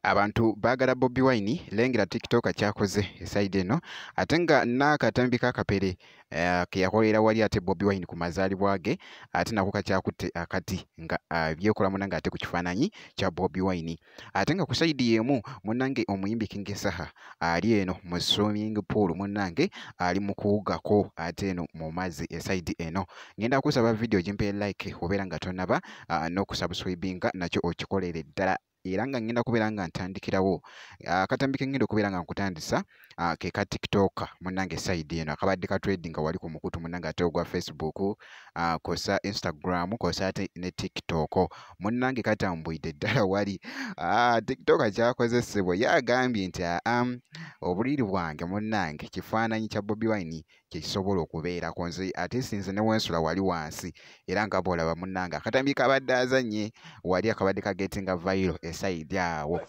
abantu baagala bobi wine lengera tiktok kyakoze esaidi eno ate nga n'akatambi kakapere eh, keyakolera wali ate bobi wine ku mazaalibwa ge ate nako kakyakutte akati nga ah, byekola muna nga ate ku kifaananyi kya bobi wine ate nga ku sayidi y'emu munnange omuyimbi King Saha ali eno mu swimming pool munnange ali mu kuwugako ate eno mu mazzi esayidi eno ngenda kusaba vidiyo gimpe like obeera nga tonaba ah, n'okusubscribinga nakyo okikolere ddala era nga ngenda kubeera nga ntandikirawo akatambi ah, ke ngenda okubeera nga nkutandisa uh, ke ka tiktok munange side eno akabadde ka trading nga wali ku mukutu munange ate ogwa facebook uh, ah, kosa instagram kosa ate ne tiktok munange katambwidde ddala wali uh, tiktok akyakozesebwa ye agambye nti aam um, obuliri bwange munange kifaananyi kya bobi wine kyekisobola okubeerako nze ate sinze ne wensula wali wansi era nga bwolaba munnange akatambi kabadde azanye wali akabadde kagetinga vairo esaidi awo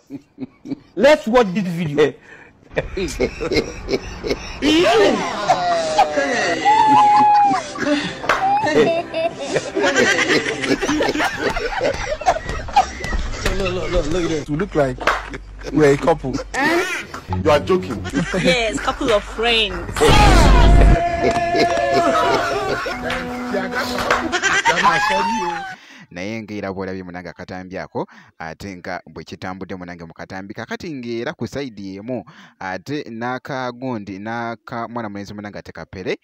Let's watch this video. look, look, look, look at this. You look like We're a couple. Eh? You are joking. yes, couple of friends. naye ngaera bwolabye munange akatambi ako ate nga bwe kitambudde munange mu katambi kakati ngaera ku saidi emu ate n'akagundi n'akamwana mulenzi munange ate kapere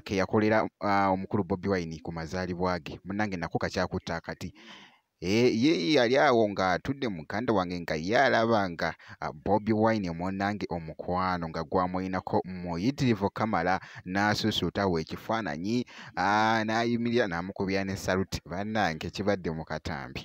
ke yakolera omukulu bobi wine ku mazaalibwa ge munange nako kakyakutta akati Eh, ye yali awo nga atudde muganda wange nga ye alaba nga ah, bobi wine munange omukwano nga gwamulinako muyitirivu kamala n'asusuuta we ekifaananyi ah, n'ayimirira n'amukubira ne saluti bannange kibadde mu katambi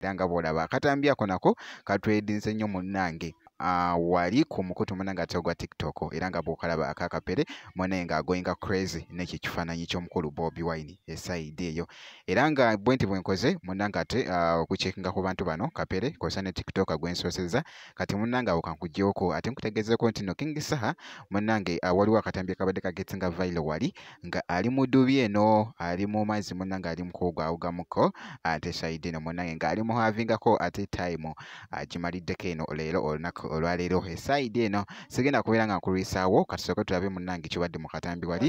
era nga bw'olaba akatambi ako nako katwedinze nnyo munnange ah, wali ku mukutu muna nga tegwa tiktok era nga bwokalaba akakapere mwanaye nga agoinga crazy nekyo ekifaananyi ky'omukulu bobi wine esaidi eyo era nga bwe nti bwenkoze munanga ate ah, okucekinga ku bantu bano kapere kosa ne tiktok gwensooseza kati munanga awo kankugyoko ate nkutegezeeko nti no king saha munange ah, waliwo akatambi akabadde kagetinga vailo wali nga ali mu dubi eno ali mu mazzi munange ali mukuwugawugamuko ate sayidi eno munange nga ali muhavingako ate time agimaliddeko eno leero olunaku olwaleero esayidi eno sigenda kubeera nga nkulwisaawo katusooke tulabe munange kibadde mu katambi wali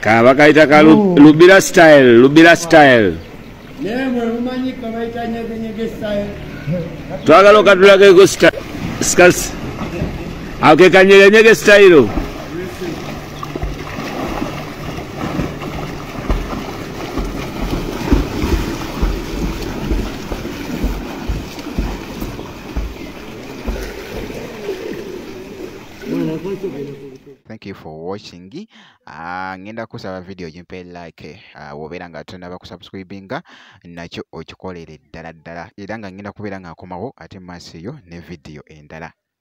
kaba kayita ka lubira style lubira style twagala okatulageko skasi ako kekanyerenyege style thank you for watching uh, ngenda kusaba video gimpe like uh, wobeera nga tonaba kusubscribinga nakyo okikolere ddala ddala era nga ngenda kubeera nga nkomawo ate maaso eyo ne video endala